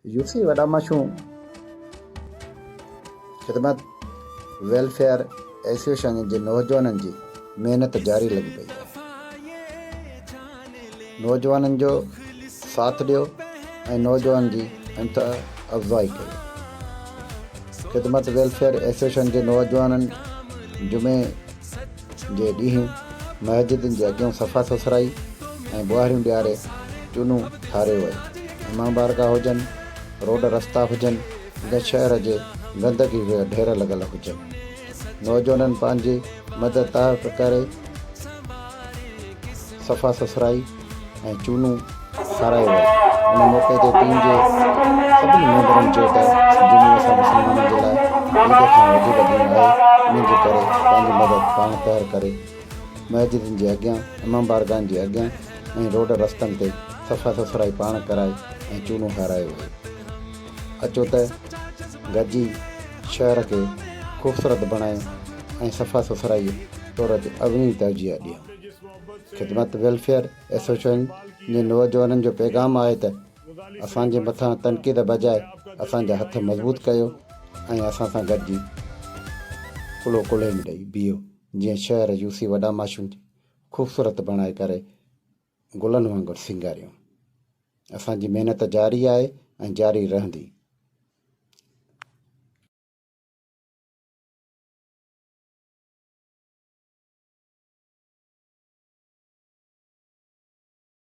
UC وڏا مشو Khidmat welfare association جي نوجوانن جي محنت جاري لڳي پئي آهي نوجوانن جو ساٿ ڏيو ۽ نوجوانن جي حمته افزائي ڪريو. خدمت ويلفيئر ايسوسيئيشن جي نوجوانن جمعي جي ڏينهن مسجدن جي اڳيان صفا سٿرائي ۽ ٻوهاريون ڏياري چونون ٺاريو ويو. امام بارگاهه هجن، روڊ رستا هجن يا شهر جي گندگي جا ڍير لڳل هجن. نوجوانن پنهنجي مدد تحت ڪري صفا سٿرائي ۽ چونون کارايو ويو. ان موقعي تي ٽيم جي سڀني ميمبرن چيو ته جمعي اسان مسلمانن جي لاء عيد کان وڌيڪ ڏينهن آهي ان جي ڪري پنهنجي مدد پاڻ تحر ڪري مسجدن جي اڳيان، امام بارگاهن جي اڳيان ۽ روڊ رستن تي صفا سٿرائي پاڻ ڪرائي ۽ چونون کارايو ويو. اچو ته گڏجي شهر کي خوبصورت بڻايون ۽ صفا سٿرائيء طور تي اڳوڻي ترجيح ڏيون. خدمت ويلفيئر ايسوسيئيشن جي نوجوانن جو پيغام آهي ته اسان جي مٿان تنقيد بجاء اسان جا هٿ مضبوط ڪيو ۽ اسان سان گڏجي ڪلهو ڪلهي ۾ ڏئي بيهو جيئن شهر يوسي وڏا ماشين کي خوبصورت بڻائي ڪري گلن وانگر سينگاريون. اسان جي محنت جاري آهي ۽ جاري رهندي.